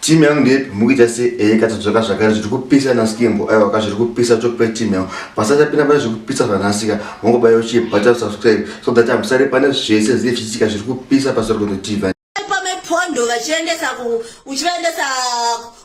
Team yangu ndepi mukuita se eh katadzoka zvakare zviri kupisa na skimbo aiwa ka zviri kupisa chok pe team yangu pasata pina pane zviri kupisa zvanasika mongo bayo chi but up subscribe so that I'm sorry pane zvese zve chitika zviri kupisa pa Sorgondo TV pa me pondo vachiendesa ku uchiendesa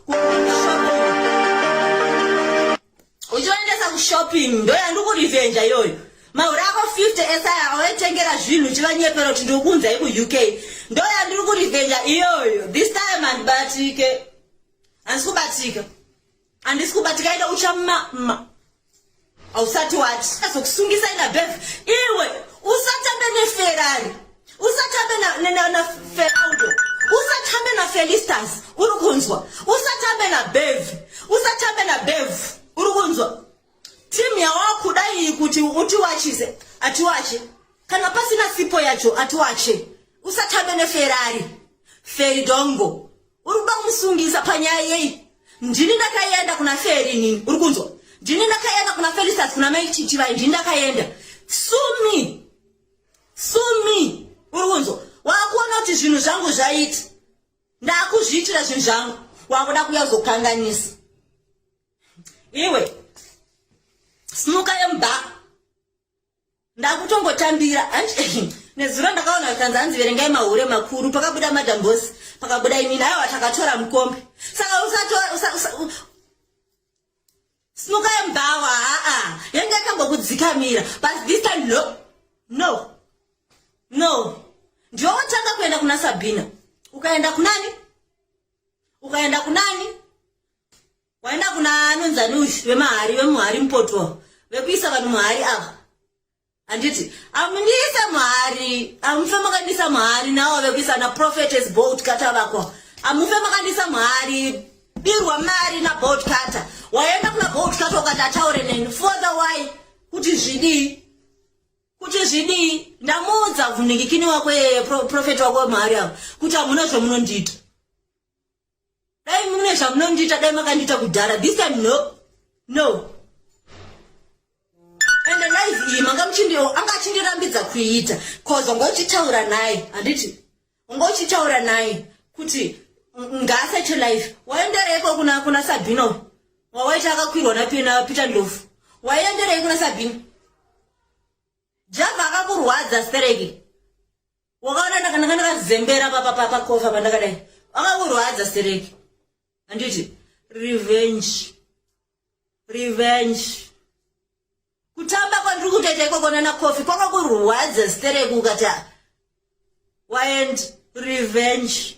ku uchivaendesa kushopping ndo yandikurivenja iyoyo mahure ako 50 esaya awaitengera zvinhu uchivanyepera kuti ndikukunzai kuuk ndo yandiri kurivenja iyoyo this time handibatike handisi kubatika handisi kubatika ida uchamama ausati wati azokusungisa ina bev iwe usatambe neferari usatambe na, na, na, na feraudo usatambe na felistas uri kunzwa usatambe na bev usatambe na bev uri kunzwa timu yawakuda iyi kuti utiwachise atiwache kana pasina sipo yacho atiwache usatambe neferari feridongo uri kuda kumusungisa panyaya yei ndini ndakaenda kuna feri nini uri kunzwa ndini ndakaenda kuna felistas kuna mai chichivai ndini ndakaenda sumi sumi uri kunzwa wakuona kuti zvinhu zvangu zvaiti ndakuzviitira zvinhu zvangu wakuda kuya kuzokanganisa iwe simuka yemba ndakutongotambira nezuro ndakaona vakanzi hanzi verengai mahure makuru pakabuda madambosi pakabuda imini aiwa takatora mukombe saka usatora Simukai mubhawa haa yanga yakambokudzikamira but this time no no no ndiwe wotanga kuenda kuna Sabina ukaenda kunani ukaenda kunani waenda kuna anonzani uyu vemahari vemuhari mupotwa vekuisa vanhu muhari ava handiti amundiise mhari amufe makandiisa mhari nawo ave kuisa naprofetes bolt kata vakwa amufe makandiisa mhari birwa mari nabolt kata waenda kuna bolt kata ukati ataure neni fother wy kuti zvidii kuti zvidii ndamuudza vhunikikini wako yeyeprofeti wako wemhari avo kuti hamuna zvamunondiita dai mune zvamunondiita dai makandiita kudhara this time no no and life iyi manga muchindi anga achindirambidza kuiita cause wanga uchitaura naye handiti wanga uchitaura naye kuti ngaasache life waendereiko kuna kuna sabino wawaita akakwirwa napina peter ndofu waienderei kuna sabini java akakurwadza stereki wakaona ndakana ndakazembera papa papa kofa pandakadai akaurwadza stereki handiti revenge revenge kutamba kwandiri kutoita ikoko nana kofi kwakakurwadza stereki ukati waend revenge